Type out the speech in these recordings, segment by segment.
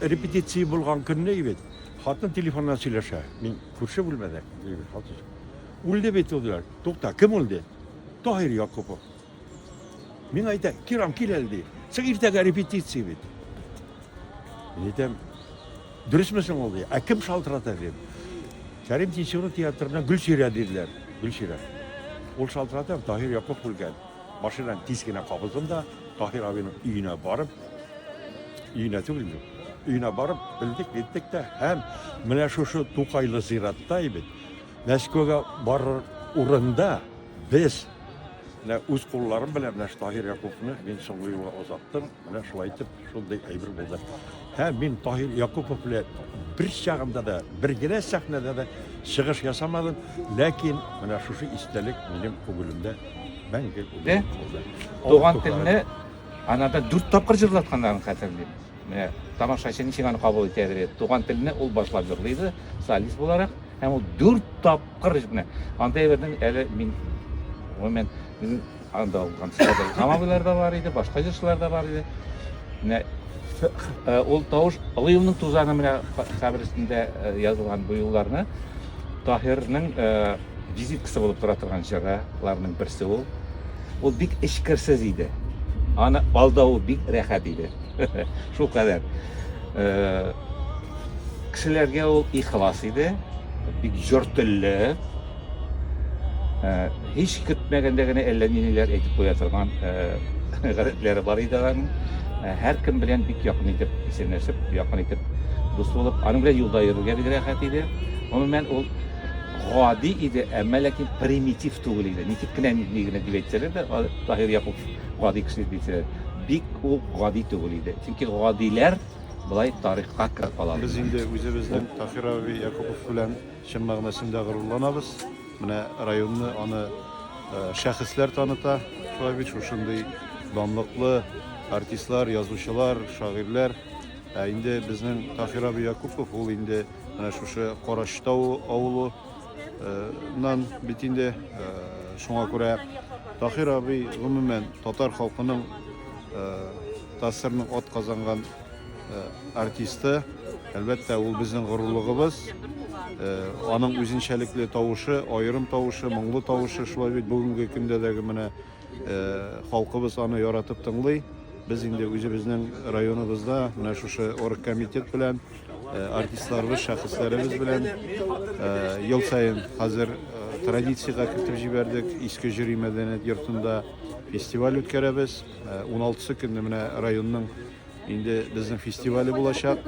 репетиция булган көнне бит хатын телефоннан сөйләшә мин күрше бүлмәдә дибит хатын үлде бит ул диләр тукта кем үлде таһир якупов Мин әйтә, Кирам, кил әле, ди. Син иртәгә репетиция бит. Мин әйтәм, дөресме соң ул, ди. Ә кем шалтырата, дим. Кәрим Тинчурин театрына Гөлчирә диделәр. Гөлчирә. Ул шалтырата, Таһир Яков күргән. Машинаны тиз генә кабыздым да, Таһир абыйның өенә барып, өенә түгел, өенә барып, белдек, әйттек тә, һәм менә шушы Тукайлы зиратта бит, Мәскәүгә барыр урында без менә үз кулларым белән менә Таһир Якуповны мин соңгы юлы озаттым. Менә шулай итеп шундый әйбер булды. Һәм мин Таһир Якупов белән бер чагында да, бер генә сәхнәдә дә чыгыш ясамадым, ләкин менә шушы истәлек минем күңелемдә мәңге Туган телне анада дүрт тапкыр җырлатканнарын хәтерлим. Менә тамашачы ничек аны кабул итә әле. Туган телне ул башлап җырлый иде, солист буларак. Һәм ул дүрт тапкыр менә андый бернең әле мин гомумән безнең анда алган Хамавилар да бар иде, башка җырчылар да бар иде. Менә э, ул тавыш Алыевның тузаны менә кабер өстендә э, язылган бу юлларны Таһирның э, Визиткасы булып тора торган җыраларның берсе ул. Ул бик эчкерсез иде. Аны алдау бик рәхәт иде. Шул кадәр. Э, кешеләргә ул ихлас иде, бик җор телле. Э, һич көтмәгәндә генә әллә ниләр әйтеп куя торган э, гадәтләре бар иде аның. Һәркем белән бик якын итеп исәнләшеп, якын итеп дус булып, аның белән юлда йөрергә бик рәхәт иде. Гомумән ул гади иде, әмма ләкин примитив түгел иде. Ничек кенә ни генә дип әйтсәләр дә, Таһир Якуп гади кеше дип әйтсәләр, бик ул гади түгел иде. Чөнки гадиләр болай тарихка кереп кала. Без инде үзебезнең Таһир абый Якупов белән чын мәгънәсендә горурланабыз. Менә районны аны шәхесләр таныта. Шулай бит шушындый данлыклы артистлар, язучылар, шагыйрьләр. Ә инде безнең Таһир абый Якупов ул инде Менә шушы Карачтау авылы нан бит инде шуңа күрә Тахир абый гомумән татар халкының тасырның от казанган артисты әлбәттә ул безнең горурлыгыбыз аның үзенчәлекле тавышы аерым тавышы моңлы тавышы шулай бит бүгенге көндә дәге менә халкыбыз аны яратып тыңлый без инде үзебезнең районыбызда менә шушы оргкомитет белән Э, артистларыбыз шәхесләребез белән э, ел сайын хәзер э, традициягә кертеп җибәрдек иске җөри мәдәният йортында фестиваль үткәрәбез 16 көнне менә районның инде безнең фестивале булачак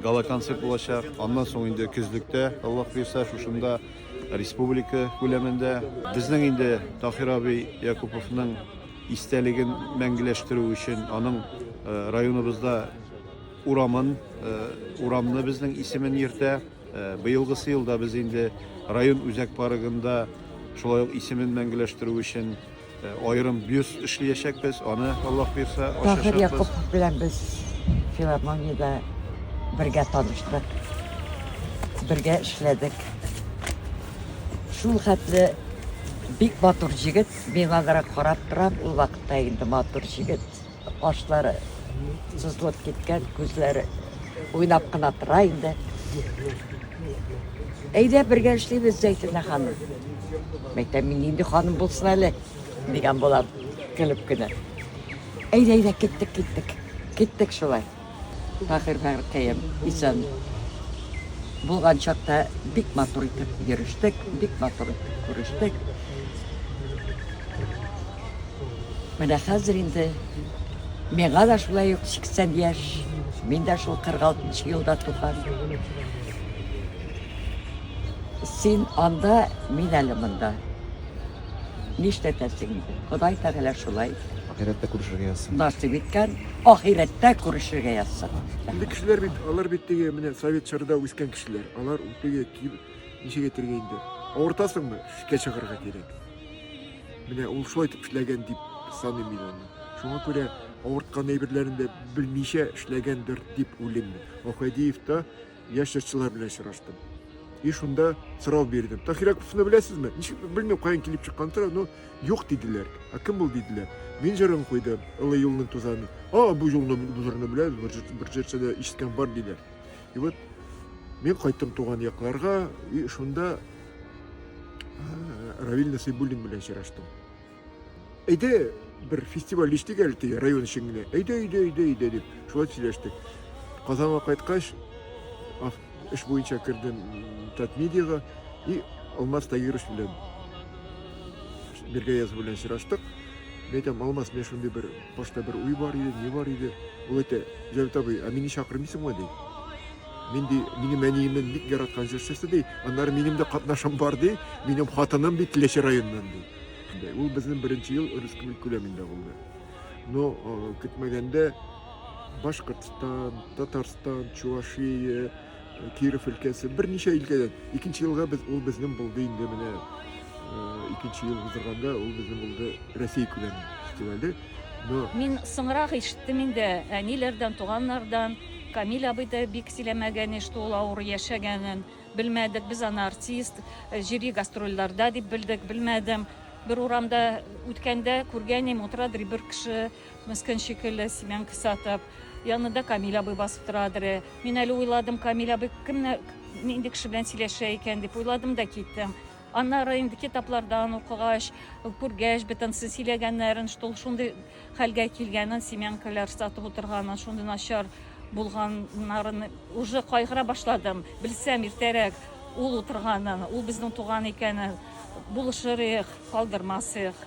гала концерт булачак аннан соң инде көзлектә аллаһ буйрса шушында республика күләмендә безнең инде таһир абый якуповның истәлеген мәңгеләштерү өчен аның районыбызда Урамын, урамны безнең исемен йөртә. Быелгысы елда без инде район үзәк парыгында шулай ук исемен мәңгеләштерү өчен аерым бюст эшләячәкбез. Аны Аллаһ бирсә ачачакбыз. Таһир Якупов белән без филармониядә бергә таныштык, бергә эшләдек. Шул хәтле бик матур җегет, миңа да карап торам, ул вакытта инде матур җегет. Кашлары сызылып киткән, күзләре уйнап кына тора инде. Әйдә бергә эшлибез, Зәйтүнә ханым. Мәйтәм, мин нинди ханым булсын әле, дигән булам, көлеп кенә. Әйдә, әйдә, киттек, киттек. Киттек шулай. Фахирбаркаем исән булган чакта бик матур итеп йөрештек, бик матур итеп күрештек. Менә хәзер инде миңа да шулай ук 80 яшь, мин дә шул 46 елда туган. Син анда, мин әле монда. Нишләтәсең инде, Ходай Тәгалә шулай. Ахирәттә күрешергә язсын. Насыйп иткән, ахирәттә күрешергә язсын. Инде кешеләр бит, алар бит теге менә совет чорда үскән кешеләр. Алар теге киб, ничек әйтергә инде, авыртасыңмы, шикә чыгарырга кирәк. Менә ул шулай итеп эшләгән дип саныйм мин аны. Шуңа күрә авырткан әйберләрен дә белмичә эшләгәндер дип уйлыйм мин. Ахәдиев та Яшь җырчылар белән очраштым. И шунда сорау бирдем. Тахир Яковлевны беләсезме? Ничек белмим, каян килеп чыккан сорау, но юк диделәр. А кем ул диделәр? Мин җырын куйдым, Ылы юлның тузаны. А, бу юлны, бу җырны беләбез, бер җырчыда ишеткән бар диләр. И вот мин кайттым туган якларга, и шунда Равил Насыйбуллин белән очраштым. Әйдә, бер фестиваль эчтек әле теге район өчен генә. Әйдә, әйдә, әйдә, әйдә дип шулай сөйләштек. Казанга кайткач, эш буенча кердем Татмедиага и Алмаз Тагирович белән бергә язу белән сораштык. Мен әйтәм, Алмаз, мен шундый бер башта бер уй бар иде, ни бар иде. Ул әйтә, Җәвит абый, ә мине чакырмыйсыңмы ди? Мин ди, минем әниемнең бик яраткан җырчысы ди, аннары минем дә катнашым бар ди, минем хатыным бит Теләче районыннан ди. Шундай. Ул безнең беренче ел республика күләмендә булды. Но э, көтмәгәндә Башкортстан, Татарстан, Чувашия, э, Киров өлкәсе берничә өлкәдән. Икенче елга без ул безнең булды инде менә э, икенче ел уздырганда ул безнең булды Россия күләме фестивале. Но Мин соңрак ишеттем инде әниләрдән, туганнардан. Камил абый да бик сөйләмәгән иде, что ул авыр яшәгәнен. Белмәдек, без аны артист, җыри гастрольләрдә дип белдек, белмәдем. Бер урамда үткәндә күргәнем, утыра дри бер кеше, мескен шикелле, семянка сатып. Янында Камиль абый басып тора дри. Мин әле уйладым, Камиль абый кемне, нинди кеше белән сөйләшә икән дип уйладым да киттем. Аннары инде китаплардан укыгач, күргәч, бөтенесен сөйләгәннәрен, что ул шундый хәлгә килгәнен, семянкалар сатып утырганын, шундый начар булганнарын уже кайгыра башладым. Белсәм иртәрәк ул утырганын, ул безнең туган икәнен, булышыр идек, калдырмас идек.